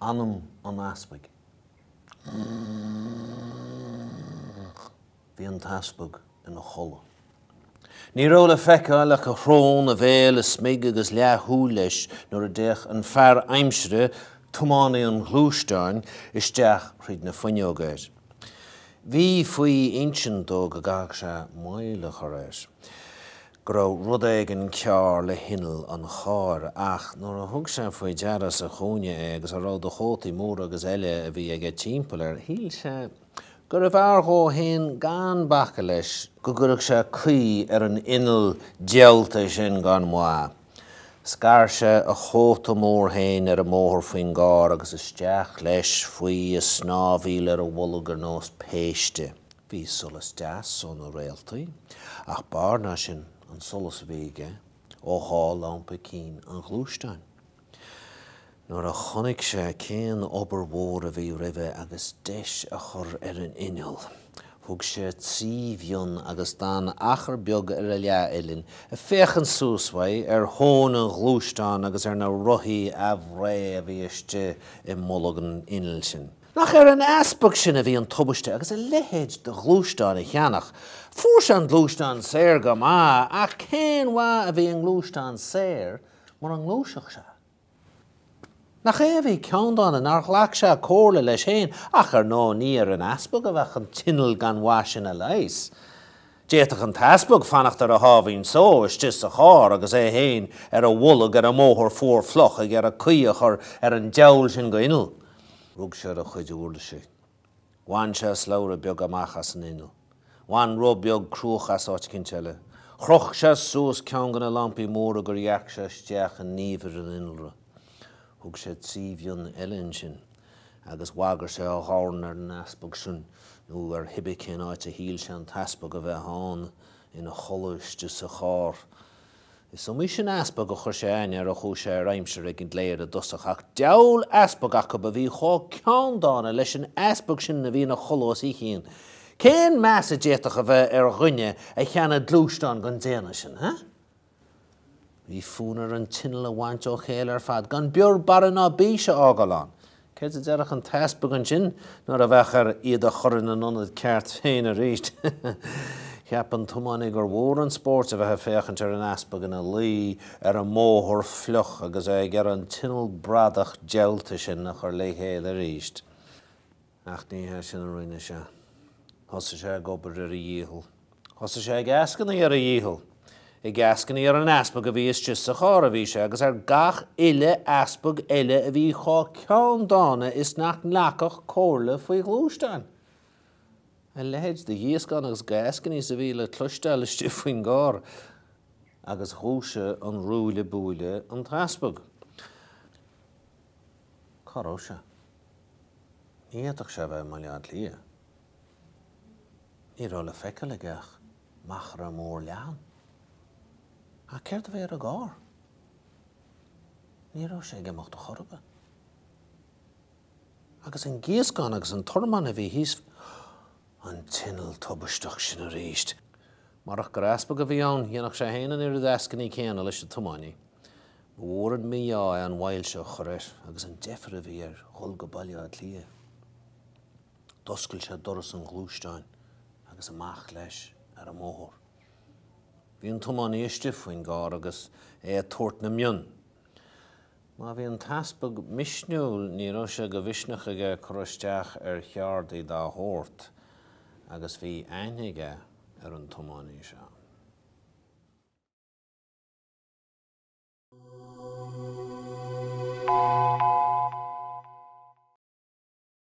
anam an easpaig. Bhí an t-easpag ina chodladh. Ní raibh le feiceáil ach a shrón, a bhéal, a smig agus leathshúil leis nuair a d'fhéach an fear aimsire, tiománaí an ghluaisteáin, isteach thríd na fuinneoga air. Bhí faoi insint dó go gcaithfeadh sé moill a chur air, go raibh rud éigin cearr le hinneall an chairr, ach nuair a thug sé faoi deara sa chúinne é agus a raibh de chótaí móra agus eile a bhí aige timpeall air, shíl sé gurbh fhearr dhó fhéin gan bacadh leis go gcuirfeadh sé caoi ar an inneall diabhalta sin gan mhaith. Scar sé a chóta mór féin ar an mbóthar faoin gcarr agus isteach leis faoi ag snámhaíl ar a bholg ar nós péiste. Bhí solas deas ó na réaltaí, ach b'fhearr ná sin an solas a bhí aige ó dhá lampa cinn an ghluaisteáin. Nuair a chonaic sé cén obair mhór a bhí roimhe agus deis a chur ar an inneall, thug sé trí mhionn agus d'fhan achar beag ar a leathuillinn ag féachaint suas uaidh ar thóin an ghluaisteáin agus ar na rothaí aimhréidhe a bhí istigh i mbolg an innill sin. Nach ar an easpag sin a bhí an tubaiste agus a leithéid de ghluaisteán a cheannach. Fuair sé an gluaisteán saor go maith, ach cén mhaith a bhí i ngluaisteán saor mura ngluaisfeadh sé? Nach é a bhí ceanndána nár ghlac sé comhairle leis féin, ach ar ndóigh ní ar an easpag a bheadh an t-inneall gan mhaith sin a leigheas. D'fhéadfadh an t-easpag fanacht ar a sháimhín só istigh sa charr agus é féin ar a bholg ar an mbóthar fuar fliuch ag iarraidh caoi a chur ar an diabhal sin de inneall. Rug sé ar a chuid uirlisí. Bhain sé slabhra beag amach as an inneall. Bhain roth beag cruach as áit eicínt eile. Chroch sé suas ceann de na lampaí móra gur dhearc sé isteach i ndiamhair an innealra. Thug sé trí mhionn eile ansin agus bhagair sé a dhorn ar an easpag sin, nó ar cibé cén áit a shíl sé an t-easpag a bheith ann, ina chodladh istigh sa charr. Is iomaí sin easpag a chuir sé aithne air ó chuaigh sé ar aimsir ag an gcléir i dtosach, ach diabhal easpag acu a bhí chomh ceanndána leis an easpag sin a bhí ina chodladh os a chionn. Cén meas a d'fhéadfadh a bheith ar dhuine a cheannaigh gluaisteán den déanamh sin? Bhí fonn air an t-inneall a bhaint ó chéile ar fad, gan bior, barra ná bís a fhágáil ann. Céard a déarfadh an t-easpag ansin nuair a bheadh air iad a chur ina n-ionad ceart féin arís? Cheap an tiománaí gur mhór an spóirt a bheith ag féachaint ar an easpag ina luí ar an mbóthar fliuch agus é ag iarraidh an t-inneall bradach diabhalta sin a chur le chéile arís. Ach ní hé sin a rinne sé. Thosaigh sé ag obair ar a dhícheall. Thosaigh sé ag eascainí ar a dhícheall, ag eascainí ar an easpag a bhí istigh sa charr a bhí sé agus ar gach uile easpag eile a bhí chomh ceanndána is nach nglacfadh comhairle faoi ghluaisteáin. A leithéid de ghíoscán agus d'eascainí is a bhí le cloisteáil istigh faoin gcarr! Agus dhúisigh an rúille búille an t-easpag. Cá raibh sé? Ní fhéadfadh sé a bheith i mBaile Átha Cliath. Ní raibh le feiceáil aige ach machaire mór leathan. Ach céard a bhí ar an gcarr? Ní raibh sé ag imeacht a chor ar bith. Agus an gíoscán agus an tormán a bhí thíos an t-inneall tubaisteach sin arís! Murach gur easpag a bhí ann, dhéanfadh sé féin an oiread eascainí céanna leis an tiománaí. Ba mhór an mí-ádh é an mhoill seo a chur air agus an deifir a bhí air dhul go Baile Átha Cliath. D'oscail sé doras an ghluaisteáin agus amach leis ar an mbóthar. Bhí an tiománaí istigh faoin gcarr agus é ag tabhairt na mionn. Má bhí an t-easpag misniúil ní raibh sé de mhisneach aige cur isteach ar cheardaí dá shórt agus bhí aithne aige ar an tiománaí seo.